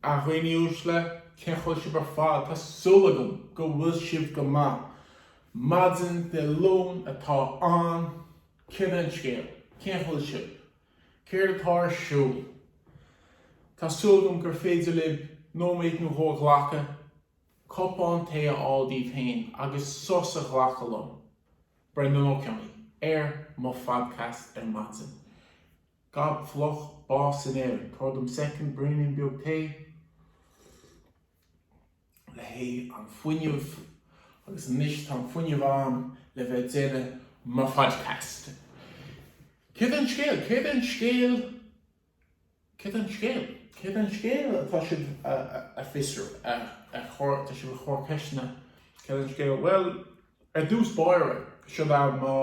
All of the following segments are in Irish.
A dhaoine uaisle, cén chaoi a bhfuil sibh ar fad? Tá súil agam go bhfuil sibh go maith. Maidin Dé Luain atá ann, céard é an scéal? Cén chaoi a bhfuil sibh? Céard atá ar siúl? Tá súil agam gur féidir libh nóiméad nó dhó a ghlacadh, cupán tae a fháil daoibh féin agus sos a ghlacadh liom, Breandán Ó Cionnaith, ar mo phodcast ar maidin. Gob fliuch, bás in Éirinn. Tabhair dom second, braoinín beag tae le haghaidh an fuinneamh agus anois tá an fuinneamh ann le bheith ag déanamh mo phodcast. Céard é an scéal? Céard é an scéal? Céard é an scéal? Céard é an scéal atá sibh a fiosrú, a chur, tá sibh a chur ceisteanna, céard é an scéal? Bhuel, ar dtús báire, seo é mo.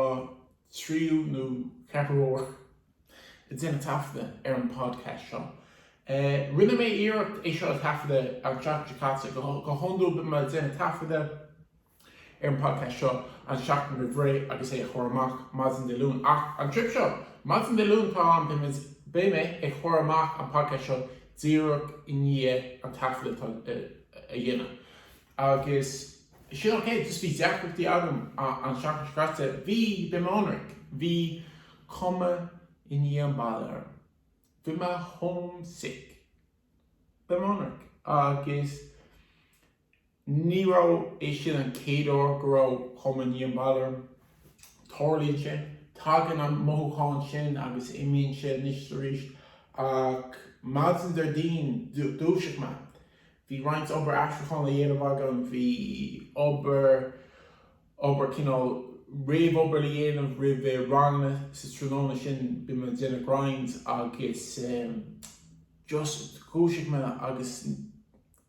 tríú nó ceathrú uair ag déanamh taifeadadh ar an podcast seo. Rinne mé iarracht é seo a thaifeadadh an tseachtain seo caite. Go hiondúil bím ag déanamh taifeadadh ar an podcast seo an seachtain roimh ré agus é a chur amach maidin Dé Luain. Ach an trip seo, maidin Dé Luain atá ann beidh beidh mé ag chur amach an podcast seo díreach i ndiaidh an taifeadadh atá a dhéanamh. Agus sin ok, just bhí deacrachtaí agam an seachtain seo caite, le bheith ionraic, bhí cumha i ndiaidh an baile orm, bhí mé homesick le bheith ionraic agus ní raibh é sin an chéad uair go raibh cumha i ndiaidh an baile orm, tarlaíonn sé, tagann an mothúchán sin agus imíonn sé anois is arís ach maidin Déardaoin dúisigh mé, Bhí roinnt obair aistriúcháin le dhéanamh agam. Bhí obair, obair, cineál réamhobair le dhéanamh roimh eh ranganna sa tráthnóna sin bhí mé ag déanamh grinds agus em just dhúisigh mé agus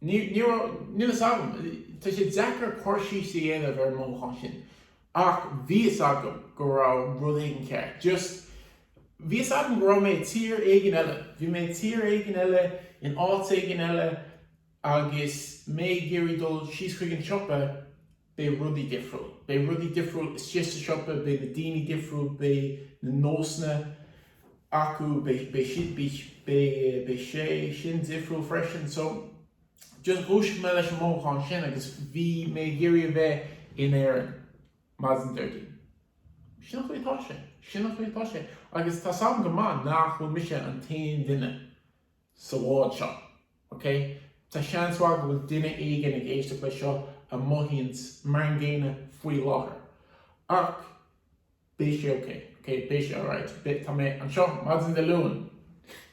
ní, ní raibh, níl fhios agam, tá sé deacair cur síos a dhéanamh ar an mothúchán sin ach bhí fhios agam go raibh rud éigin cearr, just. Bhí a fhios agam go raibh mé i tír éigin eile. Bhí mé i tír éigin eile, in áit éigin eile agus mé ag iarraidh dul síos chuig an siopa, beidh rudaí difriúil. Beidh rudaí difriúil istigh sa siopa, beidh na daoine difriúil, beidh na nósanna acu, beidh, beidh siad, beidh, beidh, beidh sé sin difriúil freisin. So, just dhúisigh mé leis an mothúchán sin agus bhí mé ag iarraidh a bheith in Éirinn. Maidin Déardaoin. Sin an chaoi atá sé. Sin an chaoi atá sé. Agus tá 's agam go maith nach bhfuil mise an t-aon duine sa bhád seo. Ok? Tá seans mhaith go bhfuil duine éigin ag éisteacht leis seo a mothaíonns mar an gcéanna faoi láthair. Ach beidh sé ok. Ok? Beidh sé alright. Beidh, tá mé anseo maidin Dé Luain.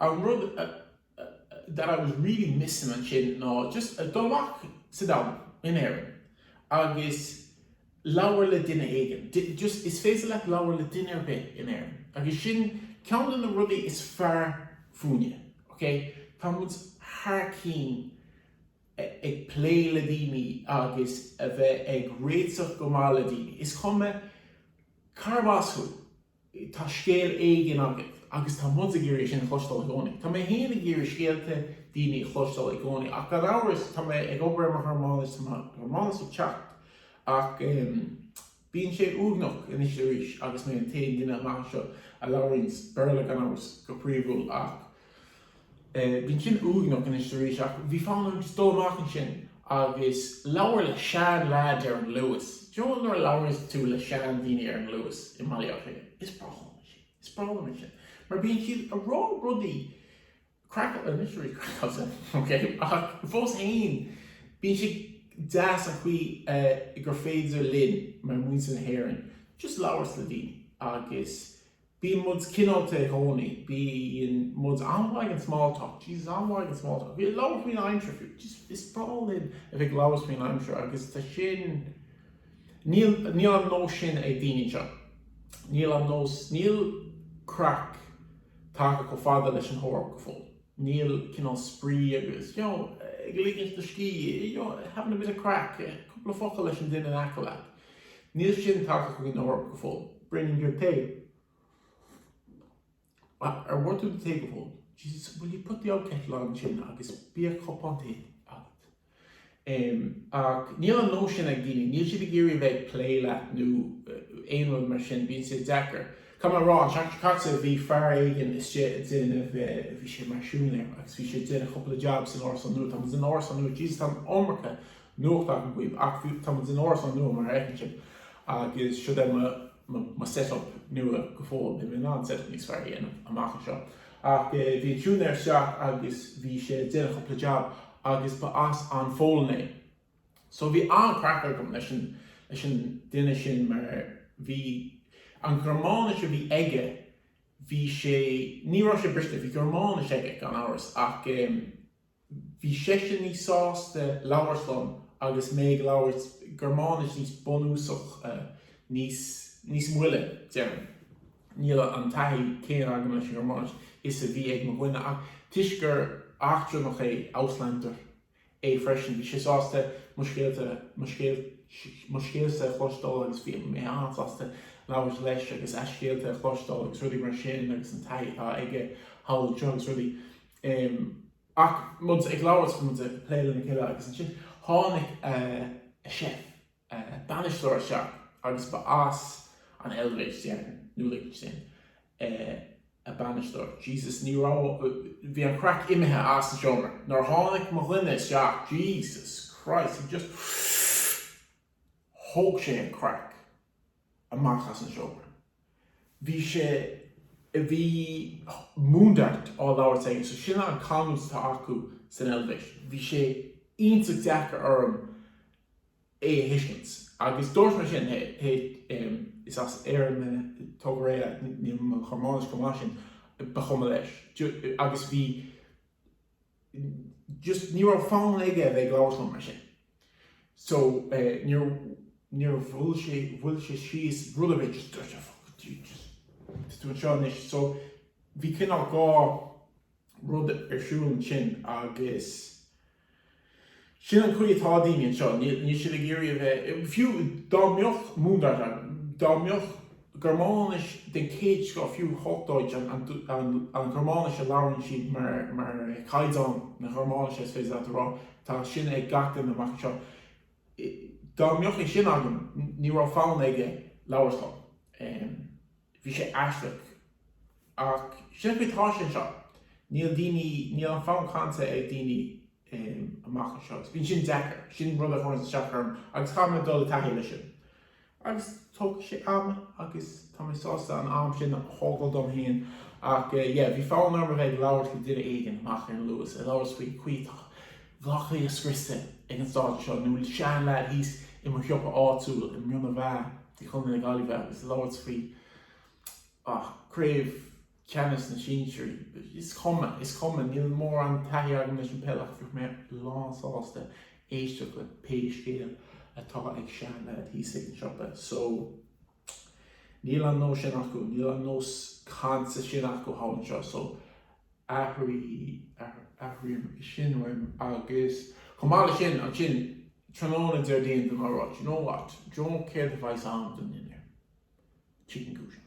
An rud that I was really missing ansin ná just dul amach sa domhan, in Éirinn agus labhairt le duine éigin. Just is féidir leat labhair le duine ar bith in Éirinn agus sin ceann de na rudaí is fearr fúinne, okay? Tá muid thar cinn ag plé le daoine agus a bheith ag réiteach go maith le daoine. Is cuma carb as thú. Tá scéal éigin agat agus tá muid ag iarraidh sin a chloisteáil i gcónaí. Tá mé féin ag iarraidh scéalta daoine a chloisteáil i gcónaí ach gan amhras tá mé ag obair ar mo Ghearmáinis, tá mo Ghearmáinis ag teacht ach bíonn sé uaigneach anois is arís agus mé an t-aon duine amach anseo a labhraíonn Béarla gan amhras go príomhúil, ach Bíonn sin uaigneach anois is arís ach bhí fonn orm dul amach ansin agus labhairt le sean leaid ar an Luas. You know nuair a labhraíos tú le sean daoine ar an Luas i mBaile Átha Cliath, is breá liom é sin. Is breá liom é sin mar bíonn siad ag rá rudaí craiceáilte, anois rudaí craiceáilte, ok, ach fós fhéin bíonn sé deas an chaoi gur féidir linn mar muintir na hÉireann just labhairt le daoine agus Bíonn muid cineálta i gcónaí. Bíonn muid an-mhaith ag an small talk. Jesus, an-mhaith ag an small talk. A bheith ag labhairt faoin aimsir fiú. Jesus, is breá linn a bheith ag labhairt faoin aimsir agus tá sin, níl, níl an nós sin ag daoine anseo. Níl an nós, níl craic tagtha chomh fada leis an Eoraip go fóill. níl cineál spraoi agus you know ag ligint do scíth you know having a bit of craic cúpla focal leis an duine in aice leat níl sin tagtha chuig an Eoraip go fóill braoinín beag tae ar ól tú do tae go fóill Jesus will you put the old kettle on ansin agus bíodh cupán tae agat. Em, ach níl an nós sin ag daoine, níl siad ag iarraidh a bheith ag plé leat nó aon rud mar sin, bíonn sé deacair. Caithfidh mé a rá, an tseachtain seo caite bhí fear éigin istigh ag déanamh eh, bhí sé mar siúinéir agus bhí sé ag déanamh cúpla jab san árasán nua, tá muid in árasán nua, Jesus tá an iomarca nuacht agam dhaoibh ach bhí, tá muid in árasán nua mar a fheiceann sibh agus siod é mo, mo, mo set up nua go fóill, beidh mé in ann set up níos fearr a dhéanamh amach anseo ach eh, bhí an siúinéir isteach agus bhí sé ag déanamh cúpla jab agus ba as an bPolainn é so bhí an-chraic agam leis an leis an duine sin mar bhí an Ghearmáinis a bhí aige bhí sé ní raibh sé briste bhí Gearmáinis aige gan amhras ach bhí seisean níos sásta labhairt liom agus mé ag labhairt Gearmáinis níos bunúsach níos níos moille déarfainn. Níl an taithí chéanna agam leis an Ghearmáinis is a bhí ag mo dhuine ach toisc gur eachtrannach é, Ausländer, é freisin, bhí sé sásta mo scéalta, mo scéalsa a chloisteáil agus bhí mé an-sásta labhairt leis agus a scéalta a chloisteáil agus rudaí mar sin agus an taithí atá aige thall anseo agus rudaí. Ach muid ag labhairt, muid ag plé lena chéile agus ansin tháinig a chef. bainisteoir isteach agus ba as an Eilvéis nó Lichtinstéin, a bainisteoir. Jesus, ní raibh, bhí an chraic imithe as an seomra nuair a tháinig mo dhuine isteach, Jesus Christ, he just thóg sé an chraic. amach as an seomra. Bhí sé, bhí Mundart á labhairt aige so sin an canúint atá acu san Eilvéis. Bhí sé iontach deacair orm é a thuiscint agus dúirt mé sin, hé, hé, is as Éirinn mé, tóg go réidh, níl mo Ghearmáinis chomh maith sin, ba chuma leis agus bhí, just ní raibh fonn aige a bheith ag labhairt liom mar sin. So níor mhoilligh sé mhoilligh sé síos rud ar bith just dúirt sé fuck it just is tú anseo anois. So bhí cineál dhá rud ar siúl ansin agus. Sin an chaoi atá daoine anseo, níl siad ag iarraidh a bheith, fiú dá mbeadh Mundart ann, dá mbeadh Gearmáinis den chéad scoth, fiú Hochdeutsch, an Ghearmáinis a labhrann siad mar chaighdeán na Gearmáinise is féidir leat a rá, tá sin ag gach duine amach anseo, dá mbeadh é sin agam ní raibh fonn aige labhairt liom. Bhí sé aisteach. Ach sin an chaoi atá sé anseo. Níl daoine, níl an fonn cainte ag daoine amach anseo. Bíonn sin deacair. Sin rud a chuireann isteach orm agus caithfidh mé dul i dtaithí leis sin. Agus tógfaidh sé am agus tá mé sásta an am sin a thógáil dom féin. Ach yeah, bhí fonn orm a bheith ag labhairt le duine éigin amach ar an Luas, ag labhairt faoin chaoi atá. Baile Átha Cliath scriosta ag an stáitse seo, nó bhuel seanleaid thíos i mo shiopa áitiúil i Muine Mheá, de Chontae na Gaillimhe agus labhairt faoi Chraobh Ceannais na Sinsearaí? Is cuma, is cuma, níl mórán taithí agam leis an peil ach bheadh mé lánsásta éisteacht le pé scéal atá ag seanleaid thíos ag an siopa. So. Níl an nós sin acu, níl an nós cainte sin acu thall anseo so airigh, airím sin uaim agus chomh maith le sin, ansin tráthnóna Déardaoin tá mé ag rá, do you know what, do you know céard a bheas ann don dinnéar? Chicken goujon.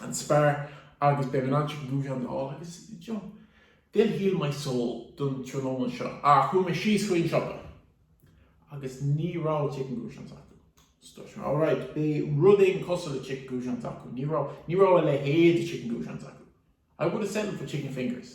an Spar agus beidh mé in ann chicken goujons a fháil agus you know they'll heal my soul don tráthnóna seo ach chuaigh mé síos chuig an siopa agus ní raibh chicken goujons acu so dúirt mé alright beidh rud éigin cosúil le chicken goujons acu ní raibh ní raibh a leithéid de chicken goujons acu I would have settled for chicken fingers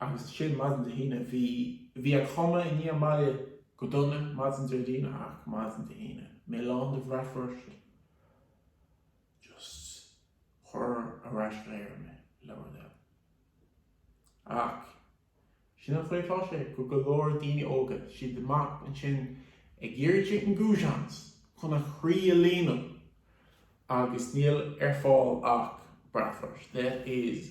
Agus sin maidin Dé hAoine. Bhí bhí an cumha i ndiaidh an bhaile go dona maidin Déardaoin ach maidin Dé hAoine, mé lán de bratwurst just cuir ar ais go hÉirinn mé, le do thoil. Ach sin an chaoi atá sé do go leor daoine óga, siad amach ansin ag iarraidh chicken goujons chun a chroí a líonadh agus níl ar fáil ach bratwurst, lads.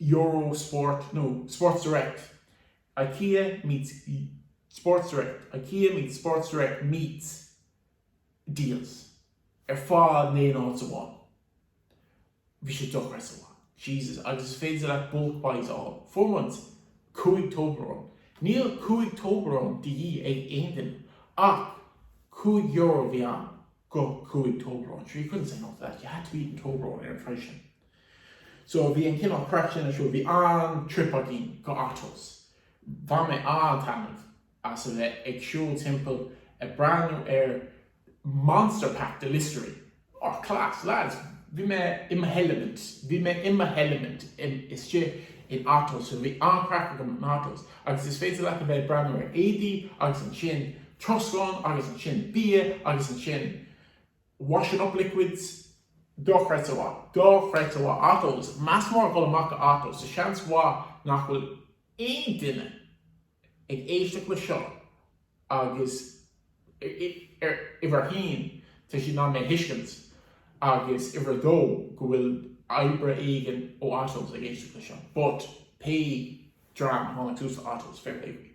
Euro Sport nó Sports Direct, Ikea meets Sports Direct, Ikea meets Sports Direct meets Dealz ar fad in aon áit amháin. Bhí sé dochreidte mhaith. Jesus, agus is féidir leat bulk buys a fháil. Fuair muid 5 Toblerone. Níl 5 Toblerone de dhíth ag aon duine ach cúig euro a bhí ann do 5 Toblerone, sure you couldn't say no to that, you had to be eating Toblerone ar an phraghas sin. So bhí an cineál craic sin ar siúl, bhí an-trip againn go Otto's. Bhain mé an-taitneamh as a bheith ag siúl timpeall ag breathnú ar monster pack de Listerine. Oh class, lads, bhí mé in mo heilimint, bhí mé in mo heilimint istigh in Otto's, so bhí an-chraic agam in Otto's agus is féidir leat a bheith ag breathnú ar éadaí agus ansin troscán agus ansin bia agus ansin Washing up liquids, Dochreidte mhaith, Dochreidte mhaith, Otto's, meas mór ag dul amach go Otto's so seans mhaith nach bhfuil aon duine ag éisteacht le seo agus uimhir a haon tá siad in ann mé a thuiscint agus uimhir a dó go bhfuil oibrí éigin ó Otto's ag éisteacht le seo but pé dream a tháinig suas le Otto's fair play daoibh.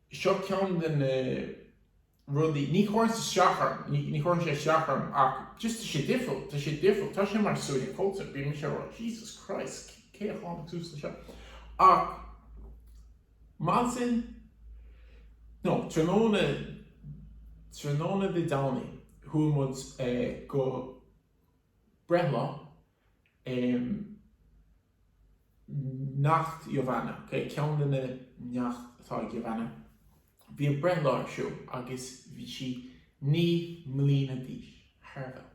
Seo ceann de na rudaí, ní chuireann sé isteach orm, ní chuireann sé isteach orm ach just tá sé difriúil, tá sé difriúil, tá sé mar suaitheadh cultúrtha, bíonn mise ag rá Jesus Christ cé a tháinig suas le seo ach maidin, no tráthnóna, tráthnóna Dé Domhnaigh chuaigh muid go breithlá eh, Neacht Giovana, ok, ceann de na neacht atá ag Giovana, bhí a breithlá ar siúl agus bhí sí naoi mbliana d'aois, thar a bheith óg.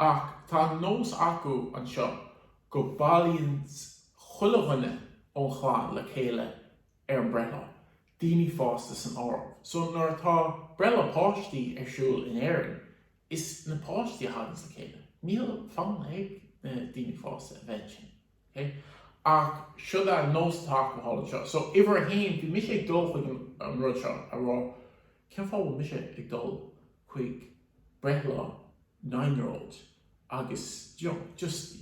Ach tá an nós acu anseo go bailíonn chuile dhuine ón chlann le chéile ar an breithlá, daoine fásta san áireamh. So nuair atá breithlá páistí ar siúl in Éirinn, is na páistí a thaganns le chéile. Níl fonn ag na daoine fásta a bheith ansin. Okay? Ach siod é an nós atá acu thall anseo. So uimhir a haon, bhí mise ag dul chuig an an rud seo, ag rá cén fáth a bhfuil mise ag dul chuig breithlá nine-year-old? agus you know just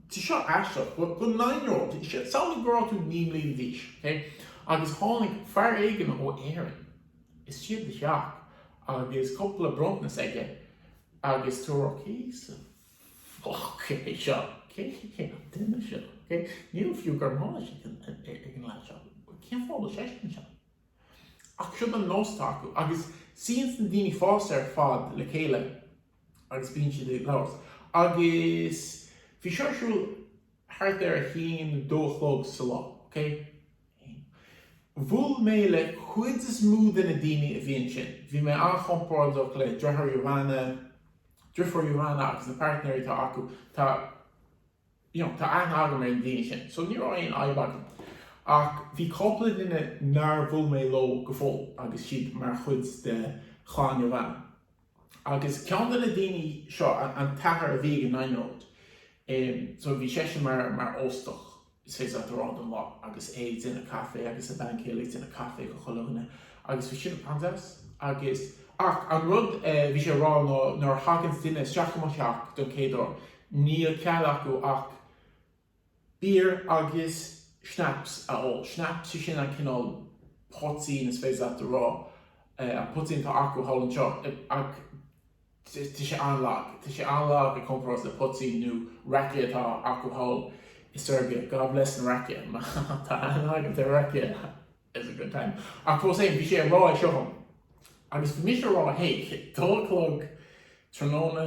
tá seo aisteach but go nine-year-old samhlaigh go raibh tú naoi mbliana d'aois okay agus tháinig fear éigin ó Éirinn isteach i do theach agus cúpla bronntanas aige agus tú ag rá cé sa foc é seo? cé cé an duine seo? okay níl fiú Gearmáinis ag an ag an lead seo cén fáth bhfuil seisean anseo? ach siod an nós atá acu agus suíonns na daoine fásta ar fad le chéile agus bíonn siad ag labhairt agus bhí seo ar siúl thart ar a haon nó dó a chlog sa lá, ok? Bhuail mé le cuid is mó de na daoine a bhí ansin, bhí mé an-chompordach le driofúr Giovanna agus na pairtnéirí atá acu, tá you know tá aithne agam ar na daoine sin so ní raibh aon fhadhb agam ach bhí cúpla duine nár bhuail mé leo go fóill agus siad mar chuid de chlann Giovanna. Agus ceann de na daoine seo, an t-athair a bhí ag an nine-year-old, so bhí seisean mar óstach is é ag siúl thart don lá agus é ag déanamh caife agus a bhean chéile ag déanamh caife do chuile dhuine agus bhí siad an-deas agus, ach an rud a bhí sé a rá ná nuair a thaganns duine isteach i mo theach don chéad uair, níl cead acu ach. Beer agus schnapps a ól. Schnapps sé sin an cineál poitín is féidir leat a rá, an poitín atá acu thall anseo ach tá sé an-lag. Tá sé an-lag i gcomparáid le poitín nó rakia atá acu thall i Serbia. God bless an rakia. Má tá aithne agat ar rakia it's a good time. Ach fós fhéin bhí sé ag rá é seo dhom agus bhí mise ag rá hé dó a chlog tráthnóna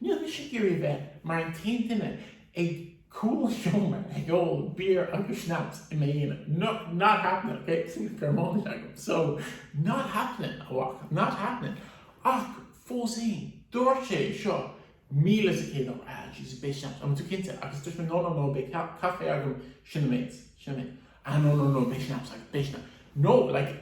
Níl mise ag iarraidh a bheith mar an t-aon duine ag cúl an tseomra ag ól beer agus schnapps i m'aonar, no, not happening, ok, sin Germáinis agam, so, not happening, a mhac, not happening, ach fós fhéin, dúirt sé seo míle is céad uair, ah, jeez, beidh schnapps agam, tú cinnte, agus dúirt mé no, no, no, beidh caife agam, sin an méid, sin an méid, ah, no, no, no, beidh schnapps agat, beidh schnapps, no, like,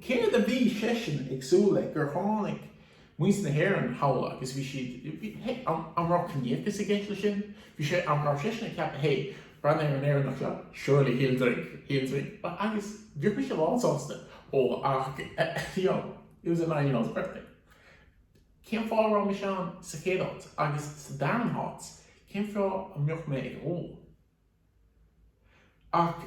céard a bhí seisean ag súil le, gur tháinig. Muintir na hÉireann thall agus bhí siad, bhí, hé, an, an raibh ciníochas i gceist leis sin? Bhí sé, an raibh seisean ag ceapadh, hé, breathnaigh ar an Éireannach seo, surely he'll drink, he'll drink, agus bheadh mise lánsásta ól ach, you know, it was a nine year old's birthday. Cén fáth a raibh mise ann sa chéad áit agus sa darn háit, cén fáth a mbeadh mé ag ól? Ach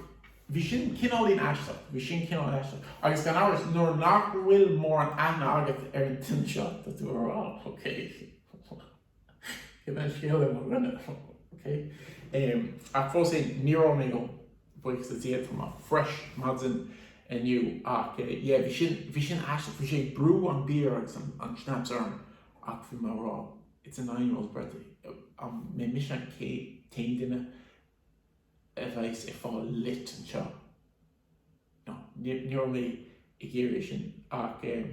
bhí sin cineáilín aisteach, bhí sin cineáilín aisteach. Agus gan amhras, nuair nach bhfuil mórán aithne agat ar an duine seo, tá tú ag rá, OK, cén scéal le mo dhuine? OK. Ach fós féin, níor ól mé, buíochas le Dia. Tá mé fresh maidin inniu. Ach yeah, bhí sin, bhí sin aisteach. Bhí sé ag brú an beer agus an schnapps orm ach bhí mé ag rá. it's a nine year old's birthday an mbeidh mise an t-aon duine a bheidh's ag fáil lit anseo no ní raibh ní raibh mé ag iarraidh é sin ach em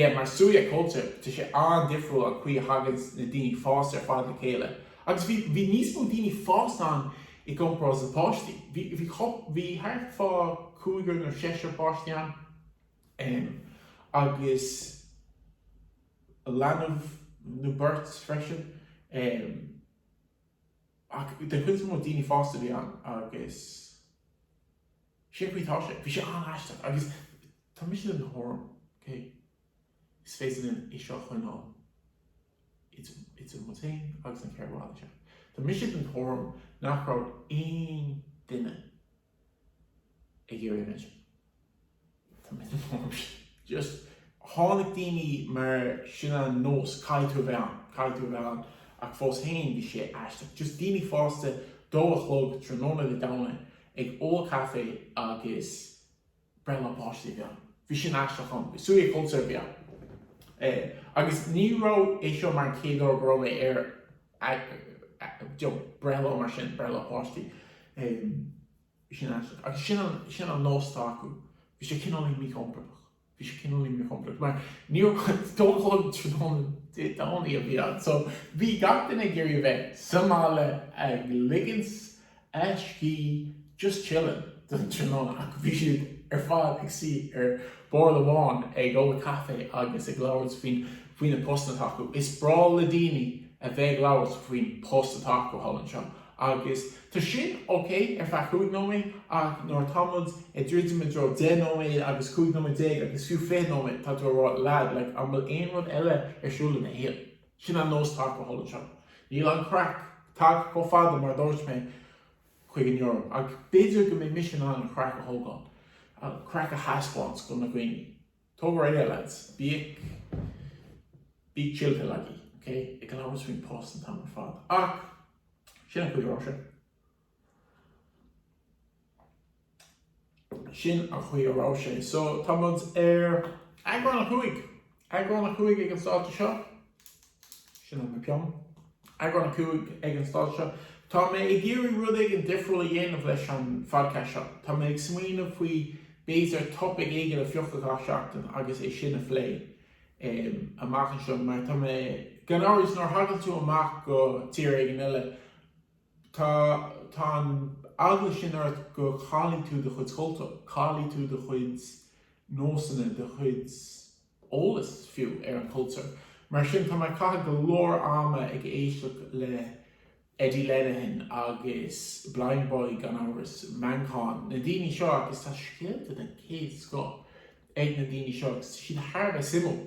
yeah mar suaitheadh cultúir tá sé an-difriúil an chaoi a thaganns na daoine fásta ar fad le chéile agus bhí bhí níos mó daoine fásta ann i gcomparáid le páistí bhí bhí chup bhí thart fá cúigear nó seisear páistí ann em agus leanbh nó beirt freisin ach den chuid is mó daoine fásta a bhí ann agus sé an chaoi tá sé, bhí sé an-aisteach agus tá mise den tuairim, okay, is féidir linn é seo a choinneáil idir muid féin agus an cheithre bhalla seo, tá mise den tuairim nach raibh aon duine. ag iarraidh a bheith ann. Tá mise den tuairim. Just tháinig daoine mar sin an nós, caithfidh tú a bheith ann, caithfidh tú a bheith ann ach fós féin bhí sé aisteach. Just daoine fásta dó a chlog tráthnóna Dé Domhnaigh ag ól caife agus. breithlá páiste a bhí ann. Bhí sin aisteach ann. Suaitheadh cultúir a bhí ann. Eh, agus ní raibh é seo mar an chéad uair go raibh mé ar you know, breithlá mar sin, breithlá páiste. Eh, bhí sin aisteach. Agus sin an, sin an nós atá acu. Bhí sé cineál míchompordach. Bhí sé cineál míchompordach. Mar ní raibh, dó a chlog tráthnóna Dé Domhnaigh a bhí ann. So, bhí gach duine ag iarraidh a bheith sa mbaile ag ligint a scíth just chillin' don tráthnóna ach bhí siad ar fad ag suí ar bord amháin ag ól caife agus ag labhairt faoi na postanna atá acu. Is breá le daoine a bheith ag labhairt faoin post atá acu thall anseo agus tá sin ok ar feadh cúig nóiméad ach nuair atá muid ag druidim i dtreo deich nóiméad agus cúig nóiméad déag agus fiú fiche nóiméad tá tú ag rá lad like an bhfuil aon rud eile ar siúl ina shaol? Sin an nós atá acu thall anseo. Níl an chraic tagtha chomh fada mar a dúirt mé chuig an Eoraip ach b'fhéidir go mbeidh mise in ann an chraic a thógáil, an chraic a thaispeáint do na daoine. Tóg go réidh é lads. Bíodh bíodh chill pill agaibh, okay? Ag labhairt faoin post an t-am ar fad. Ach sin an chaoi a raibh sé. Sin an chaoi a raibh sé. So, tá muid ar eagrán a cúig. Eagrán a cúig ag an stáitse seo. Sin é mo pheann. Eagrán a cúig ag an stáitse seo. Tá mé ag iarraidh rud éigin difriúil a dhéanamh leis an phodchast seo. Tá mé ag smaoineamh faoi b'fhéidir topaic éigin a phiocadh gach seachtain agus é sin a phlé amach anseo mar tá mé, gan amhras nuair a thagann tú amach go tír éigin eile, Tá tá an eagla sin ort go gcaillfidh tú do chuid cultúr, caillfidh tú do chuid nósanna, do chuid eolas fiú ar an cultúr. Mar sin tá mé ag caitheamh go leor ama ag éisteacht le Eddie Lenihan agus Blindboy gan amhras, Manchán, na daoine seo agus tá scéalta den chéad scoth ag na daoine seo agus siad thar a bheith suimiúil.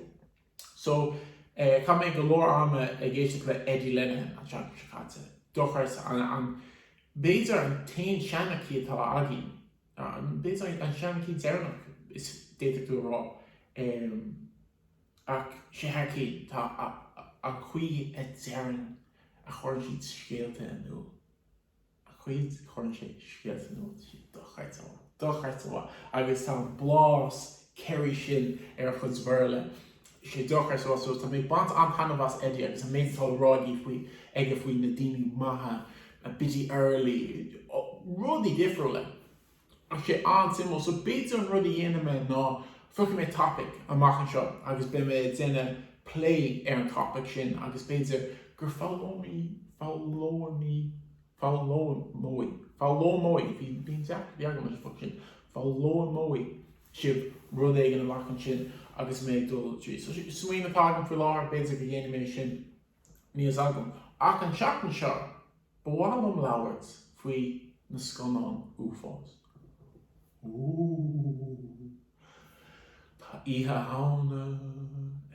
So, eh, chaith mé go leor ama ag éisteacht le Eddie Lenihan an tseachtain seo caite. Dochreidte. An, b'fhéidir an t-aon seanchaí atá againn, an, b'fhéidir an, an seanchaí deireanach is, d'fhéadfadh tú a rá. Em, ach sé thar cionn, tá a, a, an chaoi a deireann, a chuireann siad scéalta in iúl. a chuid, cuireann sé scéalta in iúl, dochreidte mhaith, dochreidte mhaith agus tá an blas Kerry sin ar a chuid Bhéarla, sé dochreidte mhaith so tá mé ag baint an-taitneamh as Eddie agus an méid atá le rá aige faoi, aige faoi na daoine maithe, Biddy Early, rudaí difriúla. Tá sé an-suimiúil. So b'fhéidir an rud a dhéanfaidh mé ná piocfaidh mé topaic amach anseo agus beidh mé ag déanamh plé ar an topaic sin agus b'fhéidir gur foghlaimeoidh, foghlaimeoidh, foghlaimeoidh, bhí deacracht bheag agam leis an bhfocal sin, foghlaimeoidh sibh rud éigin amach ansin agus mé ag dul tríd. So sin smaoineamh atá agam faoi láthair, b'fhéidir go ndéanfaidh mé sin. níl a fhios agam ach an tseachtain seo ba mhaith liom labhairt faoi na scannáin uafáis. Ooh. Tá Oíche Shamhna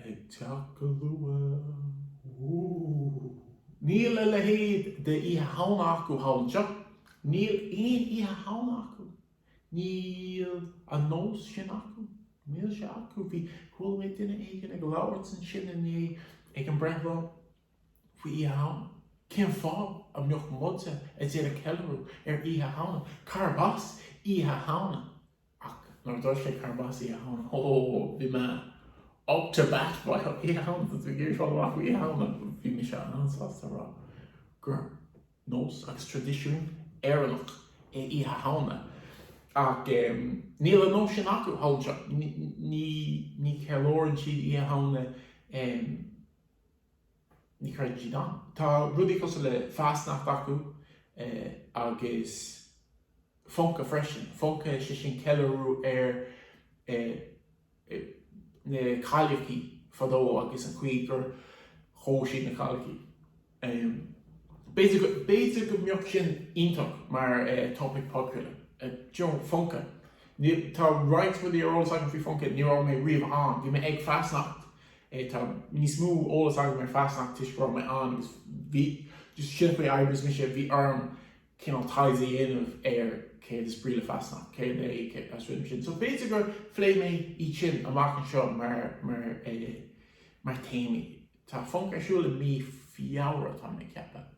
ag teacht go luath. Ooh. Níl a leithéid de Oíche Shamhna acu thall anseo. Níl aon Oíche Shamhna acu Níl an nós sin acu. Níl sé acu. Bhí, chuala mé duine éigin ag labhairt ansin inné ag an breithlá faoi Oíche Shamhna. Cén fáth a mbeadh muide ag déanamh ceiliúradh ar Oíche Shamhna? Cárb as Oíche Shamhna? Ach nuair a dúirt sé cárb as Oíche Shamhna, ó, bhí mé up to bat faoi Oíche Shamhna. Tá tú ag iarraidh fáil amach faoi Oíche Shamhna? Bhí mise an-sásta a rá gur. nós agus traidisiún Éireannach é Oíche Shamhna ach níl an nós sin acu abhus anseo. Ní cheiliúrann siad Oíche Shamhna, ní chreideann siad ann. Tá rudaí cosúil le Fasnacht acu agus Funken freisin. Funken, sé sin ceiliúradh ar na cailleachaí fadó agus an chaoi gur dhóigh siad na cailleachaí. B'fhéidir go mbeadh sin iontach mar topaic popular. Funken. Tá roinnt rudaí ar eolas agam faoi Funken, ní raibh mé riamh ann. Bhí mé ag Fasnacht, tá níos mó eolas agam ar Fasnacht toisc go raibh mé ann agus bhí, just sin faoi oibre is mise, bhí orm cineál taighde a dhéanamh ar céard is brí le Fasnacht, céard é an rithim sin. So b'fhéidir go bpléifidh mé iad sin amach anseo mar théamaí. Tá Funken ar siúl i mí Feabhra, tá mé ag ceapadh.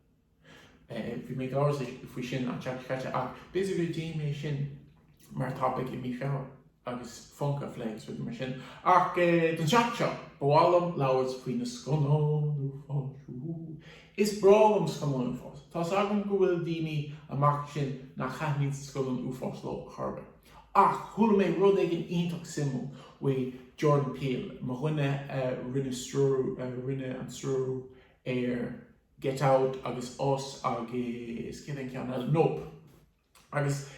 Bhí mé in amhras faoi sin an tseachtain seo caite ach b'fhéidir go dté mé sin mar topaic i mí Feabhra. agus Funken a phlé agus rudaí mar sin. Ach don seachtain seo, ba mhaith liom labhairt faoi na scannáin uafáis. Woo! Is breá liom scannáin uafáis. Tá's agam go bhfuil daoine amach ansin nach thaitníonn scannáin uafáis leo chor ar bith. Ach chuala mé rud éigin iontach suimiúil faoi Jordan Peele, mo dhuine a rinne stiúrú, a rinne an stiúrú ar Get Out agus Us agus céard é an ceann eile? Nope. Agus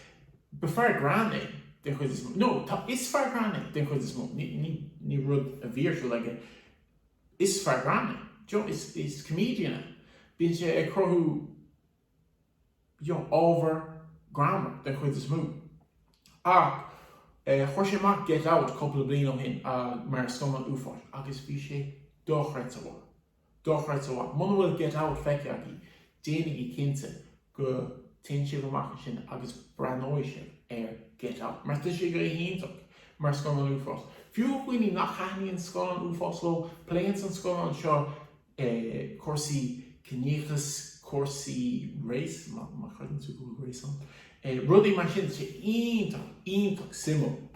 ba fear greann é den chuid is mó. Nó, tá, is fear greann é den chuid is mó. Ní, ní, ní rud a bhí ar siúl aige. Is fear greann é. D'you, is, is comedian é. Bíonn sé ag cruthú, y'know, ábhar greannmhar den chuid is mó. Ach, eh, chuir sé amach Get Out cúpla bliain ó shin, ah, mar scannán uafáis agus bhí sé dochreidte mhaith. Dochreidte mhaith. Muna bhfuil Get Out feicthe agaibh, déanaigí cinnte go dtéann sibh amach ansin agus breathnóidh sibh ar Get Out, mar tá sé go hiontach mar scannán uafáis. Fiú do dhaoine nach thaitníonn scannáin uafáis leo, pléanns an scannán seo cúrsaí ciníochas, cúrsaí race, má chreideann tú go bhfuil race ann, rudaí mar sin. Tá sé iontach, iontach suimiúil.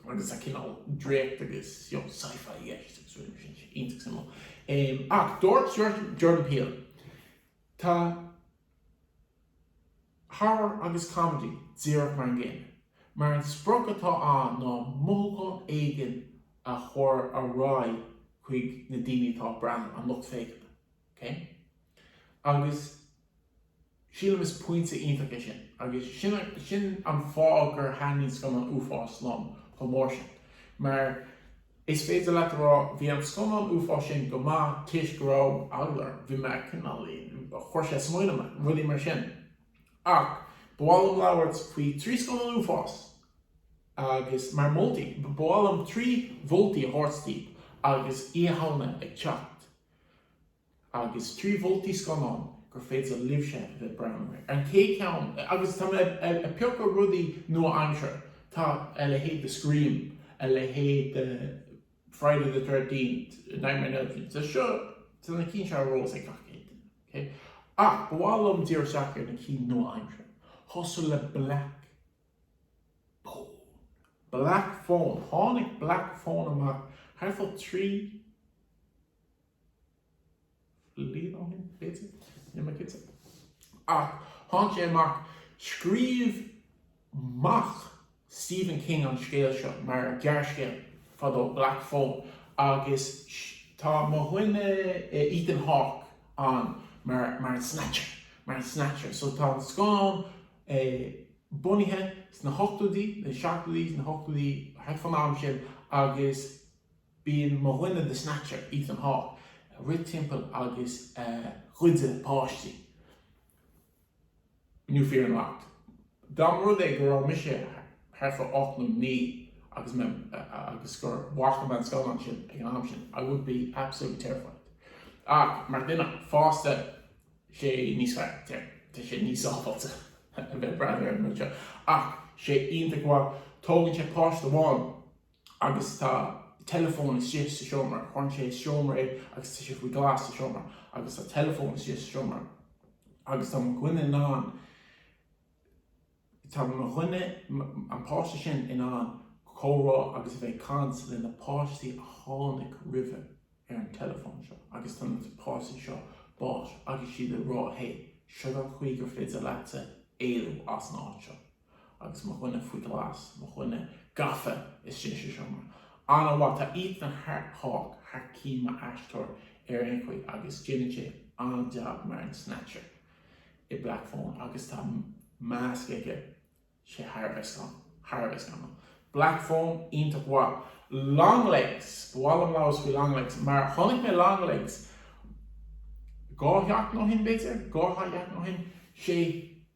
agus tá cineál draíocht agus you know sci-fi i gceist agus rudaí mar sin sé iontach suimiúil em ach dúirt Jordan Jordan Peele tá horror agus comedy díreach mar an gcéanna mar an sprioc atá ann ná mothúchán éigin a chur ar aghaidh chuig na daoine atá ag breathnú an lucht féachana okay agus Sílim is pointe iontach é sin agus sin an fáth gur thaitnigh scannáin uafáis liom chomh mór sin mar is féidir leat a rá bhí an scannán uafáis sin go maith toisc go raibh eagla orm, bhí mé cineál, chuir sé smaoineamh mé, rudaí mar sin. Ach ba mhaith liom labhairt faoi trí scannán uafáis agus mar moltaí, ba mhaith liom trí mholtaí a thabhairt daoibh agus Oíche Shamhna ag teacht. agus trí mholtaí scannáin gur féidir libhse a bheith ag breathnú air. An chéad cheann, agus tá mé ag piocadh rudaí nua-aimseartha, tá a leithéid de Scream, a leithéid de Friday the Thirteenth, Nightmare on Elm Street, tá seo, tá na cinn seo ar eolas ag gach aon duine, ok? Ach ba mhaith liom díriú isteach ar na cinn nua-aimseartha, ag tosú le Black Phone, Black Phone, tháinig Black Phone amach thart fá trí, bhliain ó shin, b'fhéidir? Níl mé cinnte. Ach tháinig sé amach. Scríobh mac Stephen King an scéal seo mar ghearrscéal fadó, Black Phone, agus tá mo dhuine Ethan Hawke ann mar an Snatcher, mar an Snatcher. So tá an scannán bunaithe sna hochtóidí, sna seachtóidí, sna hochtóidí, thart fán am sin agus, Bíonn mo dhuine The Snatcher, Ethan Hawke, ag rith timpeall agus ag goid páistí. New fear unlocked. Dá mba rud é go raibh mise thart fá ocht nó naoi agus gur bhfaca mé an scannán sin ag an am sin I would be absolutely terrified. Ach mar dhuine fásta sé níos fearr, tá sé níos sábháilte a bheith ag breathnú ar an rud seo. Ach tá sé iontach maith. Tógann sé páiste amháin agus tá teileafón istigh sa seomra. Cuireann sé sa seomra é agus tá sé faoi ghlas sa seomra agus tá teileafón istigh sa seomra agus tá mo dhuine in ann, tá mo dhuine, an páiste sin in ann comhrá agus a bheith ag caint le na páistí a tháinig roimhe ar an teileafón seo agus tá na páistí seo básaithe agus iad ag rá, hey, seo an chaoi gur féidir leatsa éalú as an áit seo. agus mo dhuine faoi ghlas, mo dhuine gafa istigh sa seomra an-mhaith. Tá Ethan Hawke thar cinn mar aisteoir ar aon chaoi agus déanann sé an-jab mar an Snatcher i Black Phone agus tá masc aige, tá sé thar a bheith scanrúil, thar a bheith scanrúil. Black Phone, iontach maith. Longlegs, ba mhaith liom labhairt faoi Longlegs mar chonaic mé Longlegs dhá sheachtain ó shin b'fhéidir, dhá sheachtain ó shin, sé,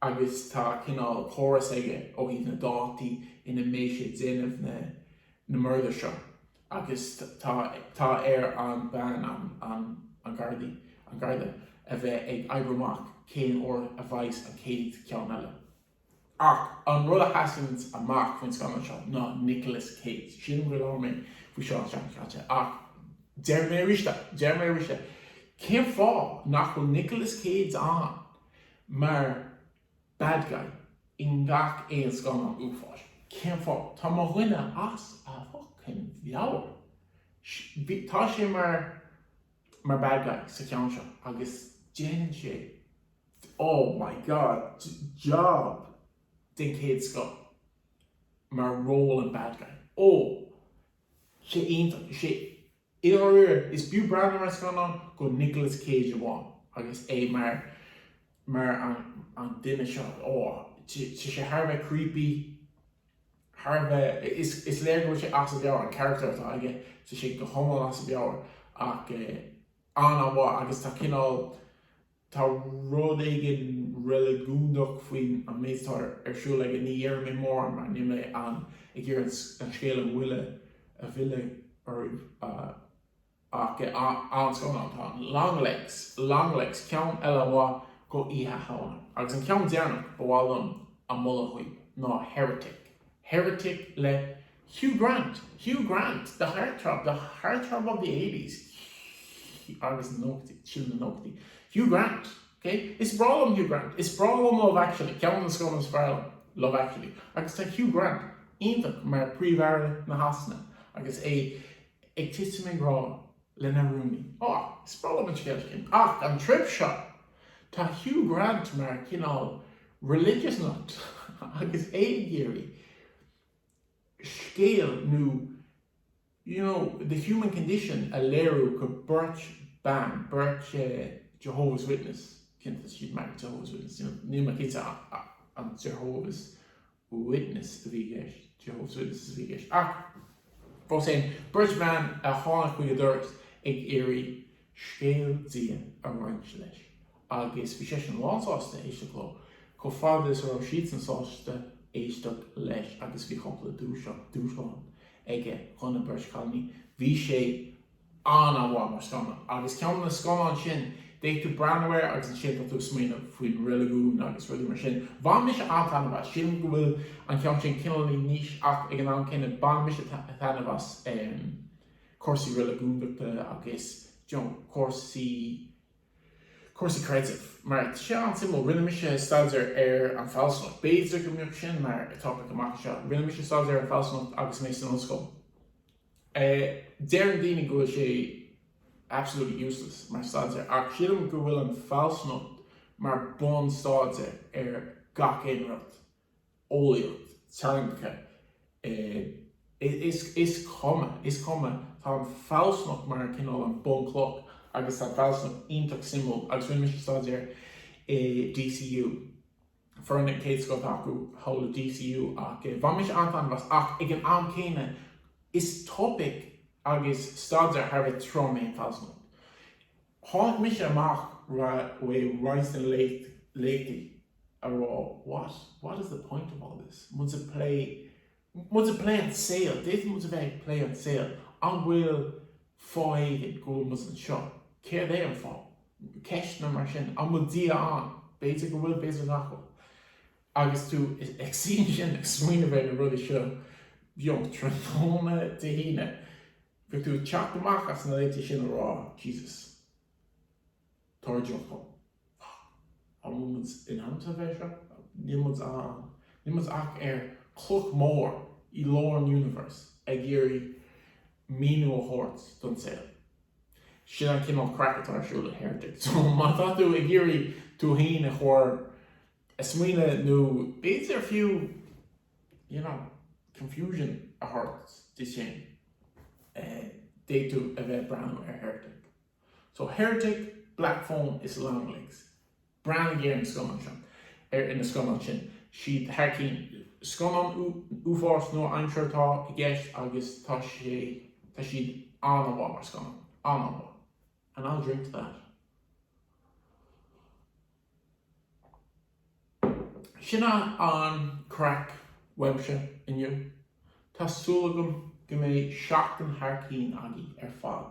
agus tá cineál córas aige ó thaobh na dátaí ina mbeidh sé déanamh na na murdair seo agus tá tá air an bean an an an gardaí an garda a bheith ag oibriú amach cén uair a bheas an chéad ceann eile ach an rud a sheasanns amach faoin scannán seo ná Nicolas Cage sin dúirt mé faoi seo an tseachtain seo caite ach deir mé arís deir mé arís cén fáth nach bhfuil Nicolas Cage ann mar bad guy i ngach aon scannán uafáis. Cén fáth? Tá mo dhuine as a fhuckin mheabhair. Bhí, tá sé mar, mar bad guy sa cheann seo agus déanann sé, oh my god, jab den chéad scoth mar ról an bad guy. Oh, tá sé iontach, tá sé. I ndáiríre, is b'fhiú breathnú ar an scannán do Nicolas Cage amháin agus é mar mar an an duine seo. Ó, tá sé thar a bheith creepy, thar a bheith, is is léir go bhfuil sé as a mheabhair, an carachtar atá aige, tá sé go hiomlán as a mheabhair ach an-mhaith agus tá cineál, Tá rud éigin reiligiúnach faoin méid atá ar siúl aige. Ní dhéarfaidh mé mórán mar níl mé ann ag iarraidh an scéal a mhilleadh oraibh ach an-scannán atá ann, Longlegs, Longlegs, ceann eile maith d'Oíche Shamhna. Agus an ceann deireanach ba mhaith liom a mholadh dhaoibh ná Heretic. Heretic le Hugh Grant, Hugh Grant, The Heartthrob, The Heartthrob of the Eighties agus na Nóchaidí, is dóigh na Nóchaidí, Hugh Grant, OK, is breá liom Hugh Grant, is breá liom Love Actually, ceann de na scannáin is fearr liom, Love Actually, agus tá Hugh Grant iontach mar Príomh-Aire na Sasana agus é ag titim i ngrá. lena rúnaí. Ó, is breá liom an scéal sin. Ach an trip seo, tá Hugh Grant mar chineál religious nut agus é ag iarraidh scéal nó you know, the human condition a léiriú do beirt bhan, beirt Jehovah's Witness, ceapaim, siad mar Jehovah's Witness, níl mé cinnte an Jehovah's. Witness a bhí i gceist, Jehovah's Witnesses a bhí i gceist, ach fós féin, beirt bhan a tháinig chuig a dhoras ag iarraidh scéal Dia a roinnt leis agus bhí seisean lán sásta éisteacht leo, chomh fada is go raibh siadsan sásta éisteacht leis agus bhí cúpla dúshlán aige do na beirt chailíní. Bhí sé an-mhaith mar scannán. Agus ceann de na scannáin sin, d'fhéadfadh tú breathnú air agus ansin tá tú ag smaoineamh faoin reiligiún agus rudaí mar sin. Bhain mise an-taitneamh as. Sílim go bhfuil an ceann sin cineálaí níos ach ag an am céanna bhain mise taitneamh as cúrsaí reiligiúndachta agus you know cúrsaí, cúrsaí creidimh. Mar tá sé an-suimiúil. Rinne mise staidéar ar an fealsúnacht. B'fhéidir go mbeadh sin mar topaic amach anseo. Rinne mise staidéar ar an fealsúnacht agus mé san ollscoil. Deireann daoine go bhfuil sé absolutely useless mar staidéar ach sílim go bhfuil an fealsúnacht mar bun staidéir ar gach aon rud, eolaíocht, teangacha, is is cuma, is cuma, tá an fealsúnacht mar cineál an bunchloch agus tá an fealsúnacht iontach suimiúil agus rinne mise staidéar i DCU foireann den chéad scoth acu thall i DCU ach bhain mise an-taitneamh as ach ag an am céanna is topaic agus staidéar thar a bheith trom é an fealsúnacht. Tháinig mise amach as roinnt de na léachtaí a rá what is the point of all this? Muid ag plé muid ag plé an saol, d'fhéadfadh muid a bheith ag plé an saol, an bhfuil fáth éigin go bhfuil muid anseo, céard é an fáth? ceisteanna mar sin, an bhfuil Dia ann? b'fhéidir go bhfuil, b'fhéidir nach bhfuil. Agus tú ag suí ansin ag smaoineamh ar na rudaí seo, bheadh sé tráthnóna Dé hAoine, bheadh tú ag teacht amach as na léachtaí sin a rá, Jesus. táirgiúlacht ann. An bhfuil muid in ainm is a bheith seo? Níl muid ann. Níl muid ach ar chloch mhór i lár an universe ag iarraidh míniú a thabhairt don saol. Sin an cineál craic atá ar siúl in Heretic. So má tá tú ag iarraidh tú féin a chur a smaoineamh nó b'fhéidir fiú you know confusion a thabhairt duit féin d'fhéadfadh tú a bheith ag breathnú ar Heretic. So Heretic, Black Phone is Longlegs. Breathnaigh ar na scannáin seo. Ar na scannáin sin. Tá siad thar cinn. Scannáin uafáis nua-aimseartha atá i gceist agus tá sé, tá siad an-mhaith mar scannáin. An-an-mhaith. And I'll drink to that. Sin é an craic uaimse inniu. Tá súil agam go mbeidh seachtain thar cinn againn ar fad.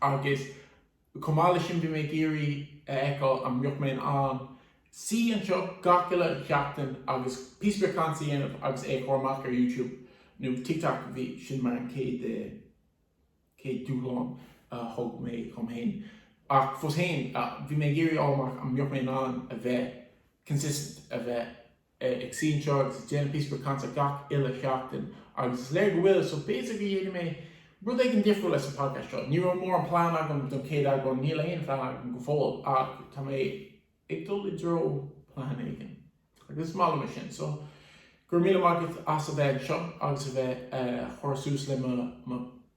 Agus chomh maith leis sin bhí mé ag iarraidh a fheiceáil an mbeadh mé in ann suí anseo gach uile sheachtain agus píosa beag cainte a dhéanamh agus é a chur amach ar YouTube nó TikTok, bhí, sin mar an chéad, chéad dúshlán a thug mé dhom féin. Ach fós féin, bhí mé ag iarraidh a fháil amach an mbeadh mé in ann a bheith consistent, a bheith. ag suí anseo agus ag déanamh píosa beag cainte gach uile sheachtain agus is léir go bhfuil so b'fhéidir go ndéanfaidh mé rud éigin difriúil leis an podcast seo. Ní raibh mórán plean agam don chéad eagrán, níl aon phlean agam go fóill ach tá mé ag dul i dtreo plean éigin agus is maith liom é sin. So, go raibh míle maith agat as a bheith anseo agus a bheith ag cur suas le mo.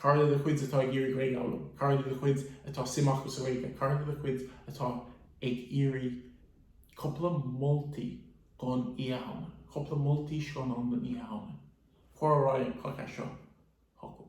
Cara le do chuid atá ag iarraidh Gaeilge a fhoghlaim, cara le do chuid atá suim acu sa Ghaeilge, cara le do chuid atá ag iarraidh cúpla moltaí don Oíche Shamhna, cúpla moltaí scannáin don Oíche Shamhna, cuir ar aghaidh an podcast seo chucu.